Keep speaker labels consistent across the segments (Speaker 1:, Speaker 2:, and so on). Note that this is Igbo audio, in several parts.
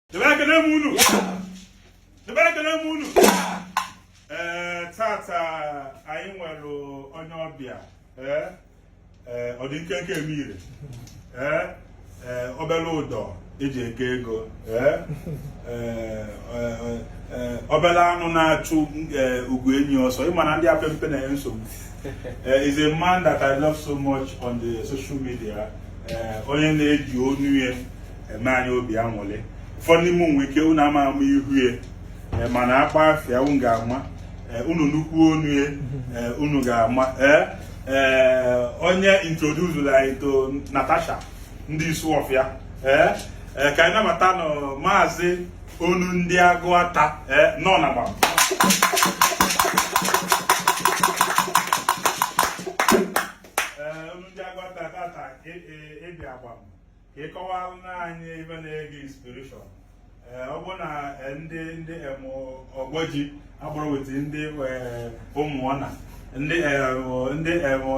Speaker 1: Debe ekene m unu. Debe ekene m unu. Ee, tata anyị nwere onye ọbịa. Ee, ee, ọ dị nkenke eme ire. Ee, ee, obere ụdọ eji eke ego. Ee, ee, ee, ee, obere anụ na-achụ ee, ugwu enyi ọsọ. Ị ma na ndị apempe na-enye nsogbu. Eh, is a man that I love so much on the social media. Eh, onye na-eji onu ya eme anyị obi anwụlị ụfọdụ n'ime nwe ike unu ama ama ihu ya e, mana akpọọ afa ya unu ga-ama e, unu nụkwuo onu ya e, unu ga-ama ee onye introducelụ anyị to Natasha ndị Isuofia ee ka anyị nabatanụ maazị onu ndị Agụata ee nnọọ na Gbam ka ị kọwara anyị ebe na-ege inspiration eh, ọ bụ na eh, ndị ndị Ọgbọji agbụrụ weta ndị eh, Ụmụọna ndị ndị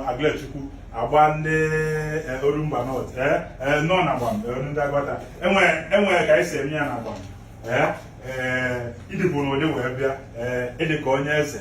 Speaker 1: Aguluezechukwu agba ndị Orumba North nnọọ na Gbam ndị Agụata enwere ka anyị si eme ya na Gbam ị dịbụ n'ụdị wee bịa ị dị ka onye eze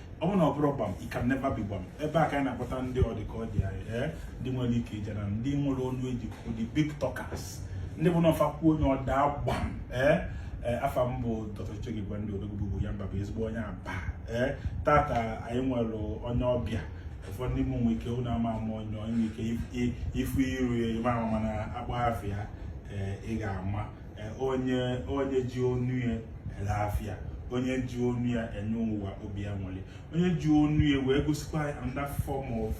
Speaker 1: ọ bụrụ na ọ bụrọ Gbam it can never be Gbam ebe a ka anyị na-akpọta ndị ọ dị ka ọ dị anyị ee ndị nwere ike ije na ndị nwere ọnụ eji kwuo the big talkers ndị bụ na fa kwuo onye ọ daa gbam ee Eh, afa m bụ Dr. Chege Gwande Odogwu ya mba bụ ezigbo onye aba ee eh, tata anyị nwere onye ọbịa ụfọdụ ndị mụ nwe ike ụnụ ama ama onye nwere ike ịfụ iru ya ị ma ama mana akpọọ afa ya eh, ị ga-ama e, onye onye ji onu ya ele afịa onye ji onu ya enye ụwa obi anwụlị onye ji onu ya wee gosikwa another form of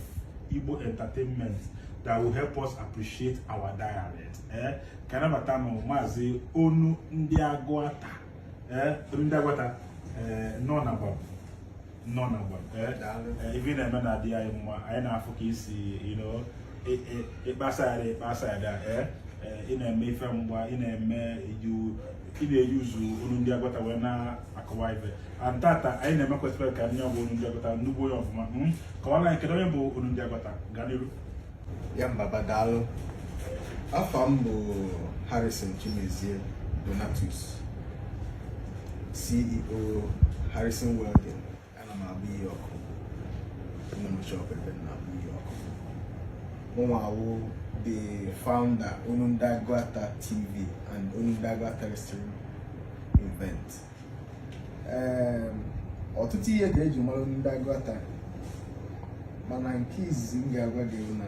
Speaker 1: Igbo entertainment that will help us appreciate our dialect ee eh, ka anyị nabatanụ maazị onu ndị Agụata ee eh, ndị Agụata eh, nnọọ na Gbam nnọọ na Gbam eh, eh, ife ị na-eme na-adị anyị mma anyị na-afụ ka ị si ịkpasa ya ịkpasa ya eh, ị na-eme ife mgba ị na-eme ị na-eyuuzu onu ndị Agụata wee na-akọwa ife and tata anyị na-eme kwesịrị ka ndị ọ bụ onu ndị Agụata nnukwu onye ọfụma hmm? kọwara anyị kedu onye bụ onu ndị Agụata gaa n'iru Yambaba
Speaker 2: daalụ afa m bụ Harrison Chimezie Donatus CEO Harrison Welding ana m agba ihe ọkụ nwee m shop ebe m na-agba ihe ọkụ mụnwa wụ the founder Onu ndị Agụata TV and Onu ndị Agụata Wrestling Event ọtụtụ ihe ka eji mara onu ndị Agụata mana nke izizi m ga-agwa gị na